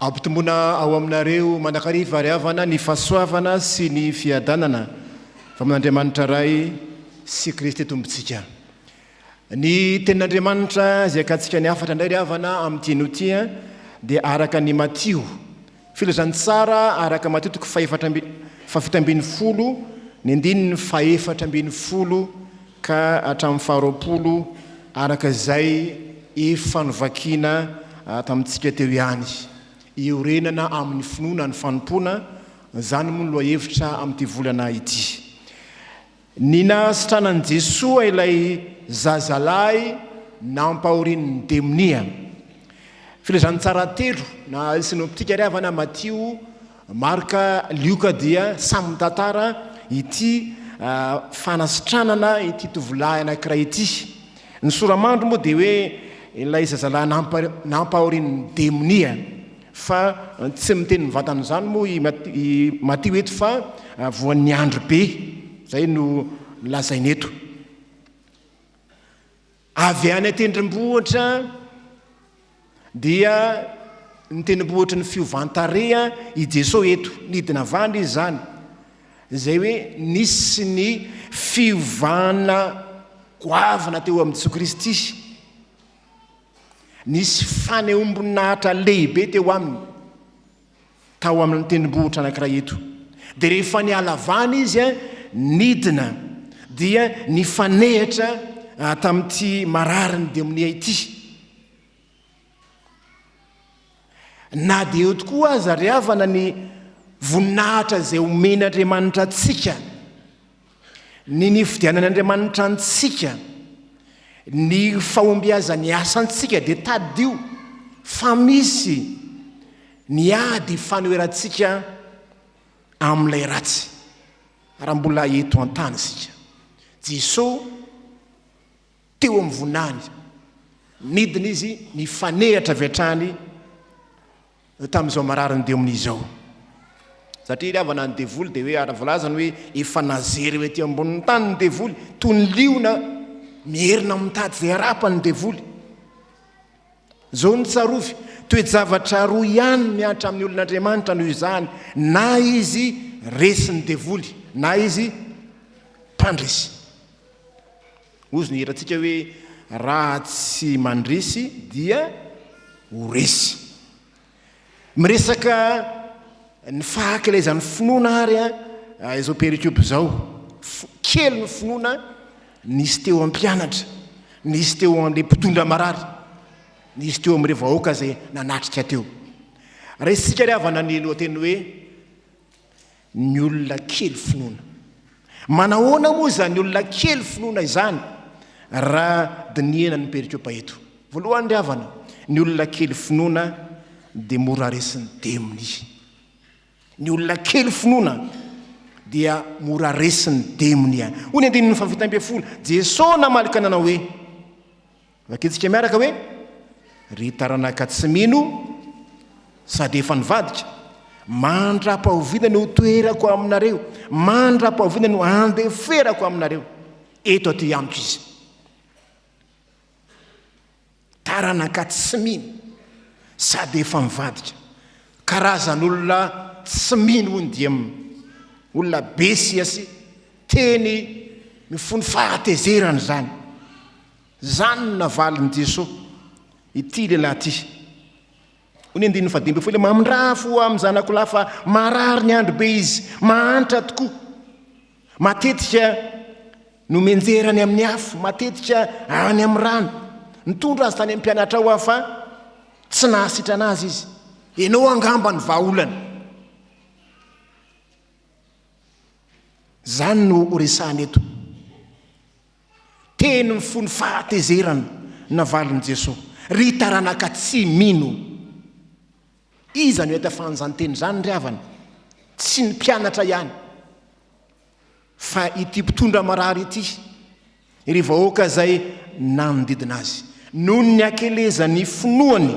Ampitomboina ao aminareo mandrakariva ry havana ny fahasoavana sy ny fiadanana avy amin'Andriamanitra Ray sy Kristy Tompontsika. Ny Tenin'Andriamanitra izay akatsika ny hafatra indray ry havana amin'ity anio ity dia araka ny Matio, Filazantsara araka Matio toko fahefatra amby fahafito ambin'ny folo ny andininy fahefatra ambin'ny folo ka hatramin'ny faharoapolo araka izay efa novakiana tamintsika teo ihany. Iorenana amin'ny finoana ny fanompoana, izany moa ny lohahevitra amin'ity volana ity. Ny nahasitranan'i Jesoa ilay zazalahy nampahorian'ny demonia. Filazantsara telo na sinoptika ry havana, Matio, Marka, Lioka dia samy mitantara ity fanasitranana ity tovolahy anankiray ity. Ny soramandry moa dia hoe ilay zazalahy nampahorian'ny demonia. Fa tsy miteny mivantana izany moa i Matio eto fa voan'ny andry be, izay no lazainy eto. Avy any an-tendrombohitra dia ny tendrombohitry ny fiovan-tarehy i Jesoa eto, nidina avy any izy izany, izay hoe nisy ny fiovana goavana teo amin'i Jesoa Kristy. Nisy fanehoam-boninahitra lehibe teo aminy tao amin'ny tendrombohitra anankiray eto. Dia rehefa niala vany izy, nidina, dia nifanehitra tamin'ity mararin'ny demonia ity. Na dia eo tokoa aza ry havana ny voninahitra izay omen'Andriamanitra antsika, ny nifidianan'Andriamanitra antsika, ny fahombiazan'ny asantsika, dia tadidio fa misy ny ady fanoherantsika amin'ilay ratsy raha mbola eto an-tany isika. Jesoa. teo amin'ny vonany. Nidina izy nifanehatra avy hatrany tamin'izao marariny dia omin'izy izao. Satria ilay havana ny devoly dia hoe ary volazany hoe efa nazery eo ety ambonin'ny tany ny devoly toy ny liona mierina mitady izay harapany ny devoly. Izao ny tsarovy, toe-javatra roa ihany mihatra amin'ny olon'Andriamanitra noho izany, na izy resin'ny devoly, na izy mpandresy. Hozy ny hirantsika hoe Raha tsy mandresy dia ho resy. Miresaka ny fahakilezan'ny finoana ary izao perikopa izao. Kely ny finoana nisy teo amin'ny mpianatra, nisy teo amin'ilay mpitondra marary, nisy teo amin'ireo vahoaka izay nanatrika teo. Raisintsika ry havana ny lohateny hoe. Ny olona kely finoana. Manahoana moa izany olona kely finoana izany raha dinihana ny perikopa eto? Voalohany ry havana, ny olona kely finoana dia mora resin'ny demony. Ny olona kely finoana dia mora resin'ny demony. Hoy ny andininy fahavita ambin'ny folo, Jesosy namaly ka nanao hoe, Vakintsika miaraka hoe, Ry taranaka tsy mino sady efa nivadika, mandra-pahoviana no hotoherako aminareo? Mandra-pahoviana no handeferako aminareo? Eto aty amiko izy. Taranaka tsy mino sady efa nivadika. Karazan'olona tsy mino hoy ny DM. Olona be siasy, teny mifono fahatezerana izany. Izany no navalin'i Jesoa ity lehilahy ity. Hoy ny andininy fahadimy ambin'ny folo, Mamindraha fo amin'ny zanako lahy fa marary ny andro be izy, mahantra tokoa. Matetika no menjera any amin'ny afo, matetika any amin'ny rano. Nitondra azy tany amin'ny mpianatra ao aho fa tsy nahasitrana azy izy. Ianao angamba ny vahaolana. Izany no horesahana eto. Teny ny fony fahatezerana navalin'i Jesoa. Ry taranaka tsy mino! Iza no hahita fahan'izany teny izany ry havana? Tsy ny mpianatra ihany, fa ity mpitondra marary ity, ry vahoaka izay nanodidina azy. Noho ny hakelezan'ny finoany,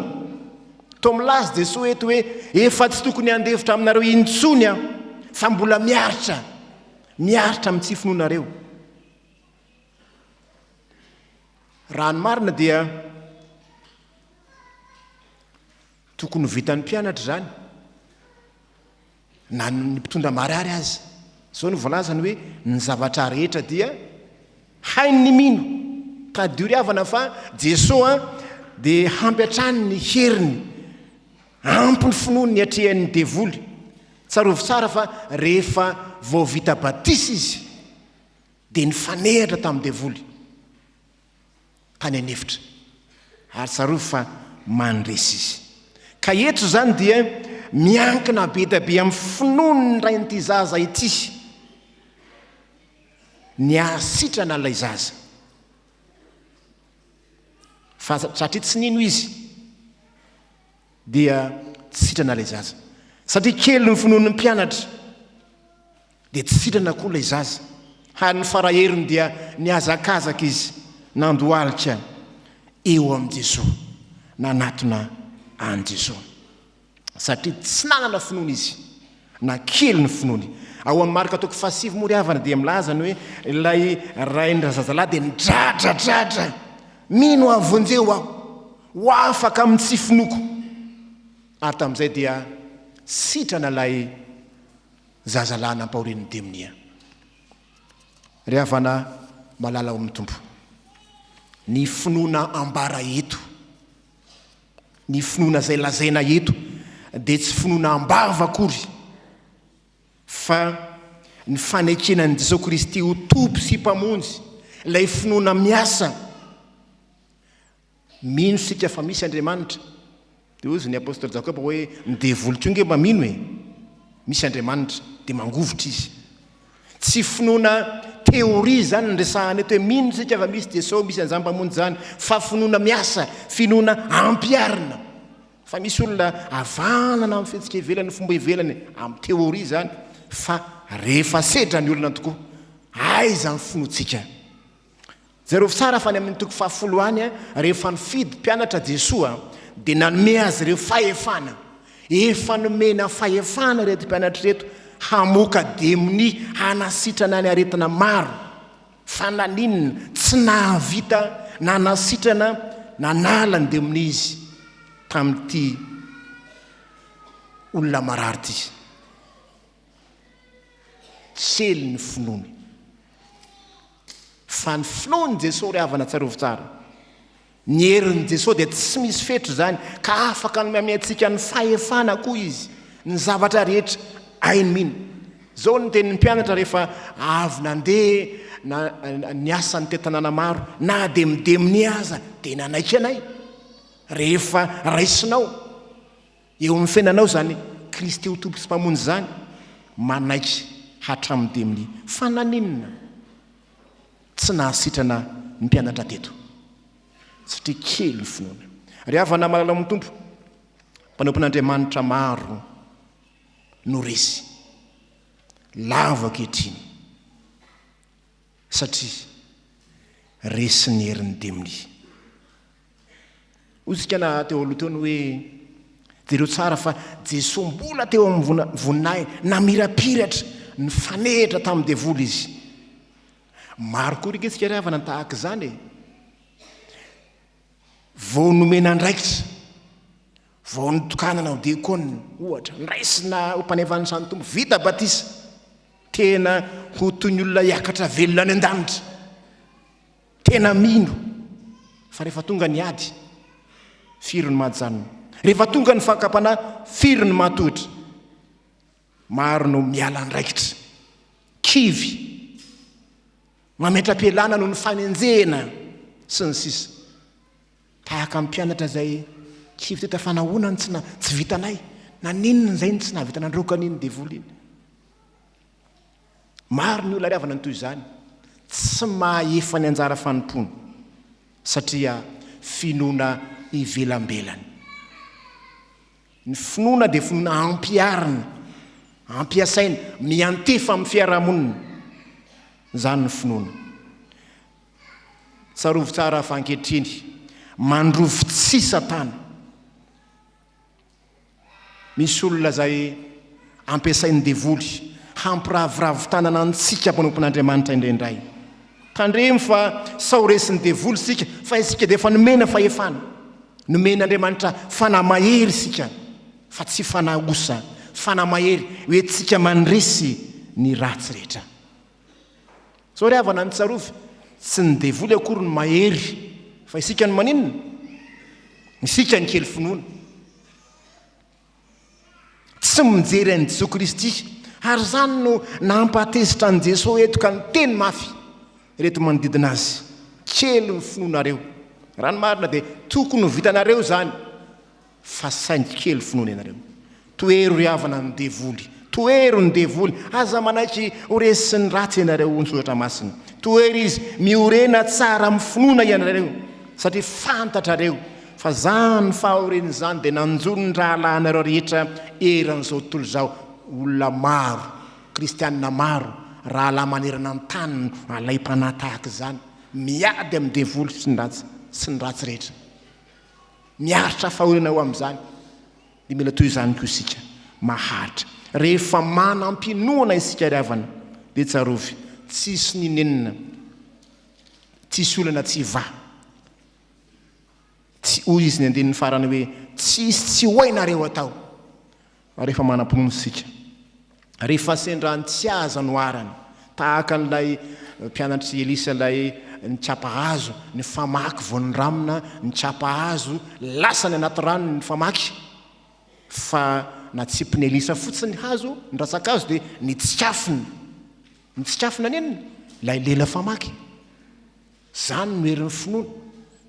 toa milaza i Jesoa eto hoe, Efa tsy tokony handefitra aminareo intsony aho, fa mbola miaritra, miaritra amin'ny tsy finoanareo. Raha ny marina dia tokony ho vitan'ny mpianatra izany na ny mpitondra marary aza. Izao no voalazany hoe ny zavatra rehetra dia hain'ny mino. Tadidio ry havana fa Jesoa dia hampy hatrany ny heriny, ampy ny finoany niatrehan'ny devoly. Tsarovy tsara fa rehefa vao vita batisa izy dia nifanehatra tamin'ny devoly tany an'efitra, ary tsarovy fa mandresy izy. Ka eto izany dia miankina be dia be amin'ny finoan'ny rain'ity zaza ity ny hahasitrana ilay zaza, fa satria tsy nino izy dia tsy sitrana ilay zaza, satria kely ny finoan'ny mpianatra. dia tsy sitrana koa ilay zaza, ary ny faraherony dia nihazakazaka izy nandohalika eo amin'i Jesoa, nanatona an'i Jesoa. Satria tsy nanana finoana izy, na kely ny finoany. Ao amin'ny Marka toko fahasivy moa ry havana dia milaza ny hoe ilay rain-drazazalahy dia nidradradradra, Mino aho, vonjeo aho, ho afaka amin'ny tsy finoako. Ary tamin'izay dia sitrana ilay. Zaza lahy nampaorin'ny demonia. Ry havana malala ao amin'ny Tompo, ny finoana ambara eto, ny finoana izay lazaina eto dia tsy finoana am-bava akory fa ny fanekena an'i Jesoa Kristy ho Tompo sy Mpamonjy, ilay finoana miasa Mino isika fa misy Andriamanitra. Dia hozy ny apostoly Jakoba hoe, ny devoly koa ange mba mino e! Misy Andriamanitra. Dia mangovitra izy. Tsy finoana théorie izany no resahana eto hoe mino isika fa misy Jesosy, misy an'izany Mpamonjy izany, fa finoana miasa, finoana ampiharina. Fa misy olona havanana amin'ny fihetsika ivelany, fomba ivelany, amin'ny théorie izany, fa rehefa sedra ny olona tokoa, aiza ny finoantsika? Jereo tsara fa any amin'ny toko fahafolo any, rehefa nifidy mpianatra Jesoa dia nanome azy ireo fahefana. Efa nomena fahefana ireto mpianatra ireto hamoaka demonia hanasitrana ny aretina maro. Fa naninona tsy nahavita nanasitrana nanala ny demonia izy tamin'ity olona marary ity? Sely ny finoany. Fa ny finoan'i Jesoa ry havana tsarovy tsara. Ny herin'i Jesoa dia tsy misy fetra izany ka afaka ny miamea antsika ny fahefana koa Izy ny zavatra rehetra hainy mino. Izao no tenin'ny mpianatra rehefa avy nandeha na niasa nitety tanàna maro, na dia midemone aza dia nanaiky anay rehefa raisinao. Eo amin'ny fiainanao izany Kristy ho Tompo sy Mpamonjy izany, manaiky hatramin'ny demony. Fa naninona tsy nahasitrana ny mpianatra teto? Satria kely ny finoana. Ry havana malala ao amin'ny Tompo, mpanompon'Andriamanitra maro no resy lavo ankehitriny Satria resin'ny herin'ny demonia. Hoy na teo aloha teo ny hoe, jereo tsara fa Jesoa mbola teo amin'ny voninahiny, namirapiratra, nifanehitra tamin'ny devoly izy. Maro koa ry antsika ry havana ny tahaka izany e. Vao nomena andraikitra, vao nitokanana ho diakona, ohatra, noraisina ho mpanao fandraisan'ny Tompo, vita batisa, tena ho toy ny olona hiakatra velona any an-danitra, tena mino fa rehefa tonga ny ady, firy no mahajanona, rehefa tonga ny fakam-panahy, firy no matohitra. Maro no miala andraikitra. Kivy. Mametra-pialana noho ny fanenjehina, sy ny sisa Tahaka ny mpianatra izay kivy teto fa nahoana no tsy vitanay? Naninona izay no tsy nahavita nandroaka an'iny devoly iny? Maro ny olona ariavana ny toy izany, tsy mahefa ny anjara fanompoany satria finoana ivelambelany. Ny finoana dia finoana ampiharina, ampiasaina, miantefa amin'ny fiarahamonina. Izany ny finoana. Tsarovy tsara fa ankehitriny, mandrovy tsihy Satana. Misy olona izay ampiasain'ny devoly hampiraviravy tanana antsika mpanompon'Andriamanitra indraindray. Tandremo fa sao resin'ny devoly isika fa isika dia efa nomena fahefana. Nomen'Andriamanitra fanahy mahery isika fa tsy fanahy osa, fanahy mahery hoentintsika mandresy ny ratsy rehetra. Sao ry havana ny tsarovy, tsy ny devoly akory no mahery fa isika no maninona? Isika ny kely finoana. Tsy mijery an'i Jesoa Kristy. Ary izany no nampatezitra an'i Jesoa eto ka niteny mafy ireto manodidina Azy, Kely ny finoanareo. Raha ny marina dia tokony ho vitanareo izany fa saingy kely finoana ianareo. Tohero ry havana ny devoly. Tohero ny devoly. Aza manaiky ho resin'ny ratsy ianareo hoy ny Soratra Masina. Tohero izy. Miorena tsara amin'ny finoana ianareo satria fantatrareo Fa izany ny fahorian'izany dia nanjo ny rahalahinareo rehetra eran'izao tontolo izao, olona maro, kristiana maro, rahalahy manerana ny tany no alaim-panahy tahaka izany, miady amin'ny devoly sy ny ratsy, sy ny ratsy rehetra. Miaritra fahoriana ho amin'izany, dia mila toy izany koa isika, maharitra. Rehefa manam-pinoana isika ry havana, dia tsarovy, tsisy ny nenina, tsisy olana tsy hivaha. Tsy, hoy Izy ny andininy farany hoe, tsy hisy tsy ho hainareo atao rehefa manam-pinoana isika. Rehefa sendra ny tsy ahy aza no arany, tahaka an'ilay mpianatr'i Elisa ilay nikapa hazo, ny famaky vao niramina, nikapa hazo, lasa ny anaty rano ny famaky, fa natsipin'i Elisa fotsiny ny hazo, ny rantsan-kazo dia nitsikafona. Nitsikafona nenina ilay lela famaky. Izany no herin'ny finoana.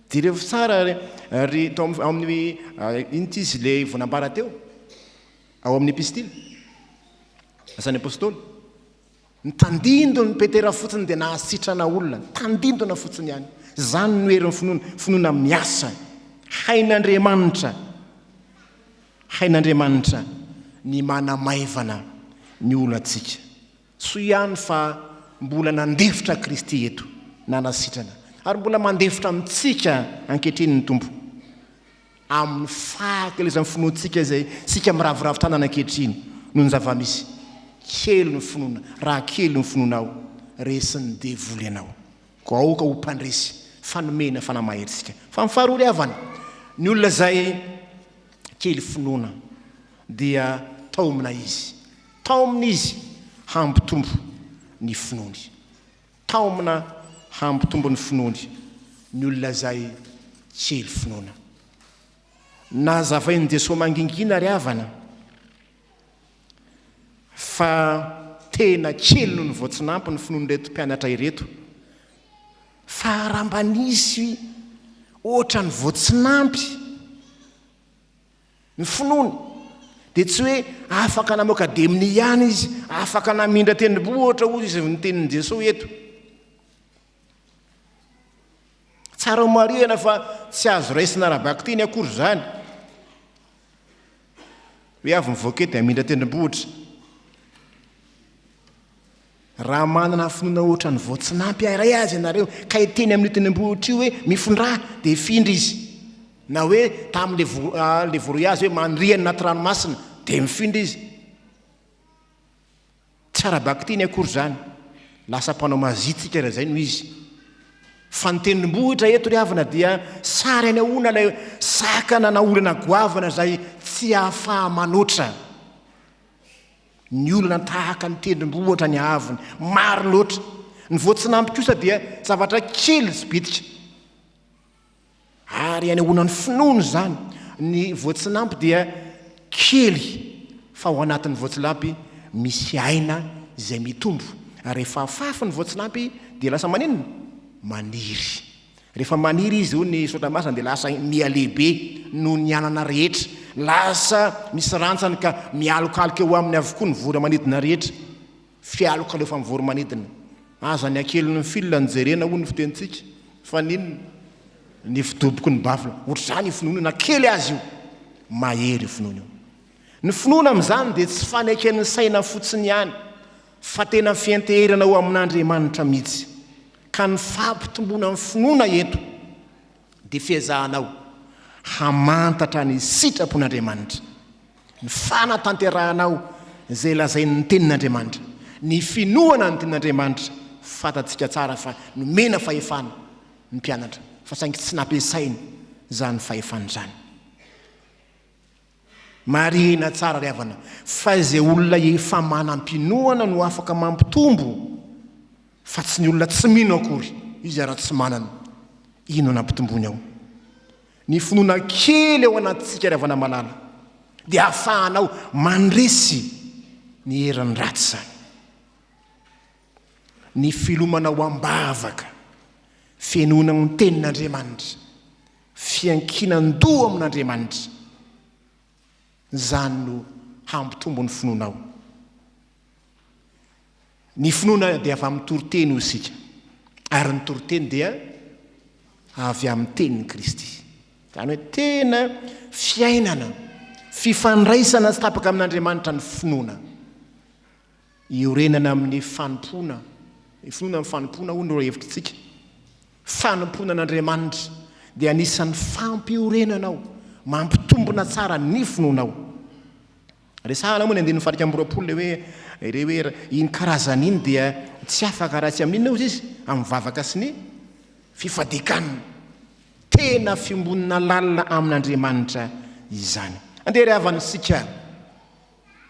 Jerevo tsara ry tao amin'ny inona ity izy ilay vao nambara teo? Ao amin'ny epistily, Asan'ny Apostoly. Ny tandindon'i Petera fotsiny dia nahasitrana olona, ny tandindona fotsiny ihany. Izany no herin'ny finoana, finoana miasa. Hain'Andriamanitra, hain'Andriamanitra ny manamaivana ny olantsika. Soa ihany fa mbola nandefitra Kristy eto, nanasitrana, ary mbola mandefitra amintsika ankehitriny ny Tompo, amin'ny fahakelezan'ny finoantsika izay isika miraviravy tanana ankehitriny noho ny zava-misy. Kely ny finoana, raha kely ny finoanao, resin'ny devoly ianao. Koa aoka ho mpandresy fa nomena fanahy mahery isika. Fa ny faharoa ry havana, ny olona izay kely finoana dia taomina izy. Taomina izy hampitombo ny finoany. Taomina hampitombo ny finoany ny olona izay kely finoana. Nazavain'i Jesoa mangingina ry havana fa tena kely noho ny voatsinanpy ny finoan'ireto mpianatra ireto. Fa raha mba nisy ohatran'ny voatsinanpy. Ny finoany dia tsy hoe afaka namoaka demony ihany izy, afaka namindra tendromboa ohatra hoy izy ny tenin'i Jesoa eto. Tsara ho marihana fa tsy azo raisina ara-bakiteny akory izany. Hoe avy mivoaka eto dia hamindra tendrombohitra. Raha manana finoana ohatran'ny vao tsy nampiharay azy ianareo ka hiteny amin'io tendrombohitra io hoe, Mifindrà! dia hifindra izy. Na hoe tamin'ilay voaroy azy hoe, Maniriha ny anaty ranomasina! dia mifindra izy. Tsy ara-bakiteny akory izany. Lasa mpanao mazia tsika raha izay no izy. Fa ny tendrombohitra eto ry havana dia sary anehoana ilay sakana na olana goavana izay tsy ahafaha-manoatra. Ny olona tahaka ny tendrombohitra ny haavony, maro loatra. Ny voatsinampy kosa dia zavatra kely sy bitika. Ary anehoana ny finoana izany, ny voatsinampy dia kely fa ao anatin'ny voatsilampy misy aina izay mitombo. Rehefa afafy ny voatsinampy dia lasa maninona? Maniry. Rehefa maniry izy hoy ny Soratra Masina dia lasa mihalehibe noho ny anana rehetra, lasa misy rantsany ka mialokaloka eo aminy avokoa ny voro-manidina rehetra. Fialoka aleofan'ny voro-manidina. Aza ny hakeliny ny fil no jerena hoy ny fitenintsika. Fa n'inona? Ny fidoboky ny bafla. Ohatr'izany io finoana io, na kely aza io. Mahery io finoana io. Ny finoana amin'izany dia tsy faneken'ny saina fotsiny ihany, fa tena fianteherana ho amin'Andriamanitra mihitsy, ka ny fampitomboana ny finoana eto dia fiezahanao hamantatra ny sitrapon'Andriamanitra, ny fanatanterahanao izay lazain'ny Tenin'Andriamanitra, ny finoana ny Tenin'Andriamanitra, fantatsika tsara fa nomena fahefana ny mpianatra fa saingy tsy nampiasainy izany fahefana izany. Marihina tsara ry havana fa izay olona efa manam-pinoana no afaka mampitombo fa tsy ny olona tsy mino akory izy ary tsy manana inona nampitomboiny ao. Ny finoana kely ao anatintsika ry havana malala dia ahafahanao mandresy ny herin'ny ratsy izany. Ny filomanao am-bavaka, fenoina ny tenin'Andriamanitra, Fiankinan-doha amin'Andriamanitra. Izany no hampitombo ny finoanao. Ny finoana dia avy amin'ny toriteny, hoy isika, ary ny toriteny dia avy amin'ny tenin'i Kristy. Izany hoe tena fiainana, fifandraisana tsy tapaka amin'Andriamanitra ny finoana. Iorenana amin'ny fanompoana, ny finoana ny fanompoana hono no hevitr'tsika. Fanompoana an'Andriamanitra dia anisan'ny fampiorenana ao, mampitombona tsara ny finoanao. Resahana moa ny andininy faha-iraika amby roapolo ilay hoe, ilay hoe iny karazany iny dia tsy afaka raha tsy amin'inona ozy izy, amin'ny vavaka sy ny fifadikanana. Tena fiombonana lalina amin'Andriamanitra izany. Andeha ry havana isika.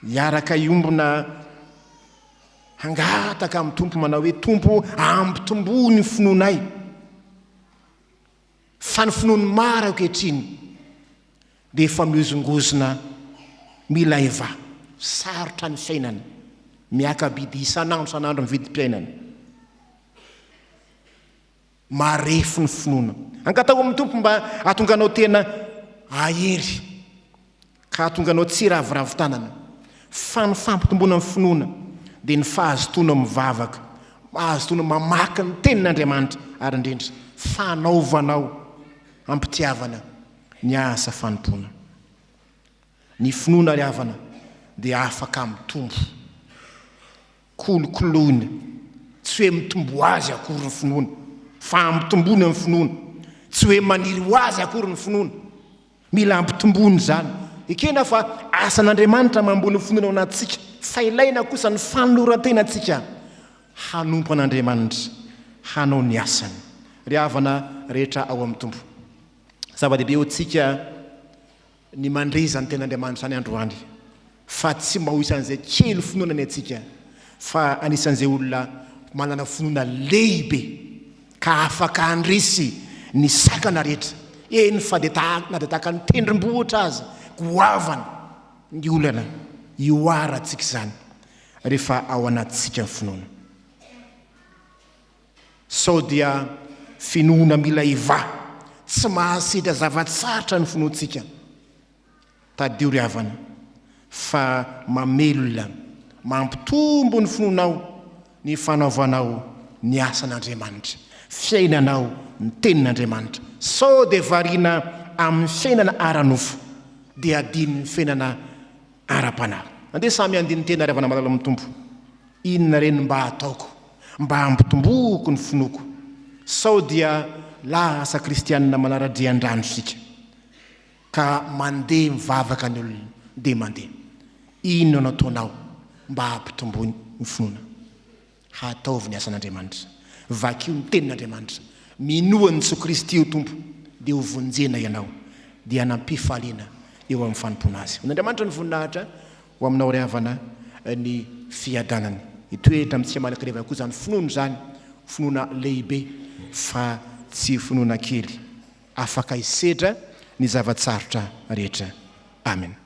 Hiaraka hiombona hangataka amin'ny Tompo manao hoe, Tompo ampitomboy ny finoanay. Fa ny finoan'ny maro ankehitriny dia efa mihozongozona, milaiva, sarotra ny fiainana, miaka-bidy isan'andro isan'andro ny vidim-piainana. Marefo ny finoana. Angataho amin'ny Tompo mba hahatonga anao tena hahery, ka hahatonga anao tsy hiraviravy tanana. Fa ny fampitomboana ny finoana dia ny fahazotoana mivavaka, mahazotoana mamaky ny Tenin'Andriamanitra, ary indrindra, fanaovanao am-pitiavana ny asa fanompoana. Ny finoana ry havana dia afaka mitombo. Kolokoloina, tsy hoe mitomboa azy akory ny finoana, fa ampitomboina ny finoana, tsy hoe maniry ho azy akory ny finoana. Mila ampitomboina izany. Ekena fa asan'Andriamanitra mamboly ny finoana ao anatintsika, fa ilaina kosa ny fanoloran-tenantsika hanompo an'Andriamanitra, hanao ny asany. Ry havana rehetra ao amin'ny Tompo, zava-dehibe ho antsika, ny mandre izany Tenin'Andriamanitra any androany, fa tsy mba ho isan'izay kely finoana ny antsika, fa anisan'izay olona manana finoana lehibe, ka afaka handresy ny sakana rehetra, eny fa dia tahaka na dia tahaka ny tendrombohitra aza goavana ny olana ihoarantsika izany, rehefa ao anatintsika ny finoana. Sao dia finoana mila ivaha, tsy mahasedra zava-tsarotra ny finoantsika? Tadidio ry havana fa mamelona, mampitombo ny finoanao ny fanaovanao ny asan'Andriamanitra, fiainanao ny tenin'Andriamanitra. Sao dia variana amin'ny fiainana ara-nofo dia adinon'ny fiainana ara-panahy. Andeha samy handini-tena ry havana malala amin'ny Tompo. Inona re no mba hataoko mba hampitomboako ny finoako? Sao dia lasa kristianina manara-drian-drano isika ka mandeha mivavaka ny olona dia mandeha. Inona no ataonao mba hampitomboy ny finoana? Hataovy ny asan'Andriamanitra. Vakio ny Tenin'Andriamanitra. Minoa an'i Jesoa Kristy ho Tompo dia ho vonjena ianao dia hanampy fahaliana eo amin'ny fanompoana Azy. Ho an'Andriamanitra ny voninahitra. Ho aminao ry havana ny fiadanana. Hitoetra amin'ny tsy aman-kirevaka koa izany finoana izany, finoana lehibe fa tsy finoana kely. Afaka hisedra ny zava-tsarotra rehetra. Amena.